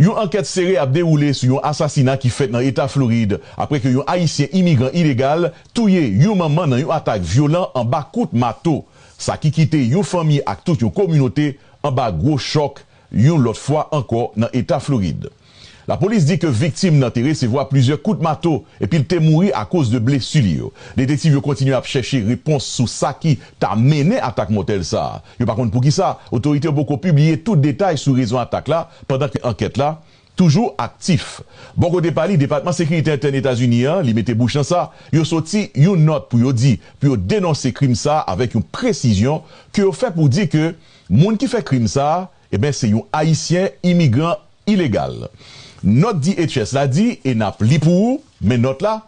Yon ankèt sere ap dewoule sou yon asasina ki fèt nan eta Florid apre ke yon ayisyen imigran ilegal touye yon manman nan yon atak vyolan anba kout mato, sa ki kite yon fanmi ak tout yon kominote anba gwo chòk yon lòt fwa ankò nan eta Florid. Lapolis di ke viktim nan te resevwa plizyè kout mato epi l te mouri akoz de blesi li yo. Detektiv yo kontinye ap chèche repons sou sa ki ta mennen atak mòtèl sa a. Yo pa konn poukisa otorite yo poko pibliye tout detay sou rezon atak la pandan ke ankèt la toujou aktif. Bò kote pa li, Depatman Sekirite Entèn Etazini an, li mete bouch nan sa, yo soti yon nòt pou yo di, pou yo denonse krim sa a avèk yon presizyon ke yo fè pou di ke moun ki fè krim sa a, Eben se yon ayisyen imigran ilegal. Nòt DHS la di, e n ap li pou ou, men nòt la,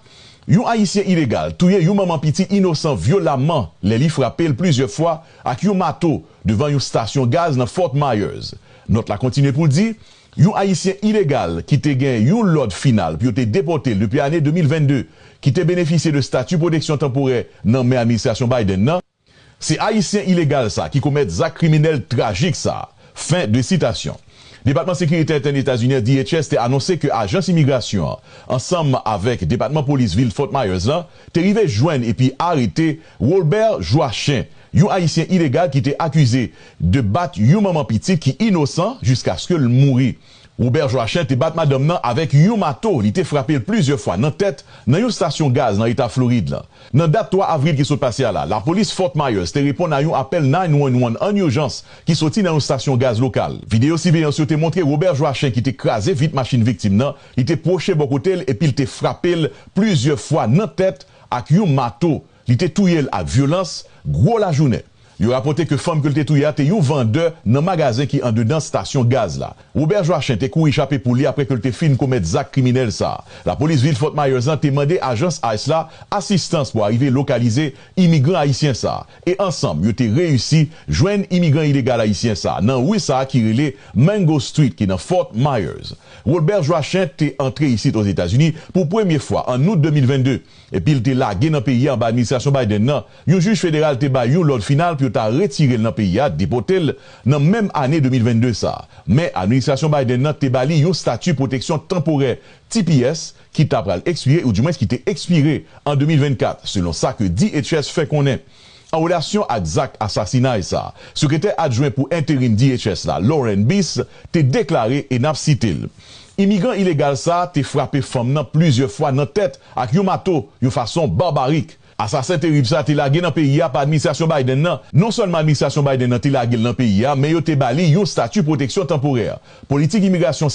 Yon ayisyen ilegal touye yon manman pitit inosan vyolamman lè li frape l plizyè fwa ak yon mato devan yon stasyon gaz nan Fort Myers. Nòt la kontinye pou l di, Yon ayisyen ilegal ki te gen yon lòd final pou yo te depòte l depi ane 2022, ki te benefisye de stati pwoteksyon tanporè nan men administrasyon Biden nan, Se ayisyen ilegal sa ki komèt zak kriminèl trajik sa. Fen de sitasyon. Depatman Sekirite Entèn Etazinyen, DHS, te anonse ke ajans imigrasyon an, ansanm avèk Depatman Polis vil Fort Myers la, te rive jwenn epi arete Rolbert Joachim, yon ayisyen ilegal ki te akize de bat yon manman pitit ki inosan jiskaske l mouri. Robert Joachim te bat madanm nan avèk yon mato, li te frape l plizyè fwa nan tèt nan yon stasyon gaz nan eta Florid la. Nan dat 3 avril ki sot pase a la, lapolis Fort Myers te reponn a yon apèl 911 ann ijans ki soti nan yon stasyon gaz lokal. Videyo siveyans yo te montre Robert Joachim ki te kraze vit machin viktim nan, li te pwoche bò kote l epi l te frape l plizyè fwa nan tèt ak yon mato, Li te touye l ak vyolans, gwo lajounen. Yo rapòte ke fanm ke l te touye a te yon vandè nan magazen ki andedan stasyon gaz la. Robert Joachim te kouri chape pou li apre ke l te fin komèt zak kriminèl sa a. Lapolis vil Fort Myers la te mande ajans ice la asistans pou arive lokalize imigran ayisyen sa a, e ansanm yo te reyisi jwenn imigran ilegal ayisyen sa a nan ri sa a ki rele Mango Street ki nan Fort Myers. Rolbert Joachim te antre isit Ozetazini pou premye fwa an Out 2022. epi l te lage nan peyi a anba administrasyon Biden nan, yon jij federal te bay yon lòd final pou yo ta retire l nan peyi a, depote l, nan menm ane 2022 sa a. Men, administrasyon Biden nan te ba li yon stati pwoteksyon tanporè, tps, ki ta pral ekspire, oudimwens ki te ekspire, an 2024, selon sa ke DHS fè konnen. An relasyon ak zak asasinay sa, Sekretè Adjwen pou Enterim DHS la, Lauren Biss, te deklare e n ap site l, Imigran ilegal sa te frape fanm nan plizyè fwa nan tèt ak yon mato yon fason barbarik. Asasen terib sa te lage nan peyi a pa administrasyon Biden nan. Non sèlman administrasyon Biden nan te lage l nan peyi a, men yo te ba li yon stati pwoteksyon tanporè. Politik imigrasyon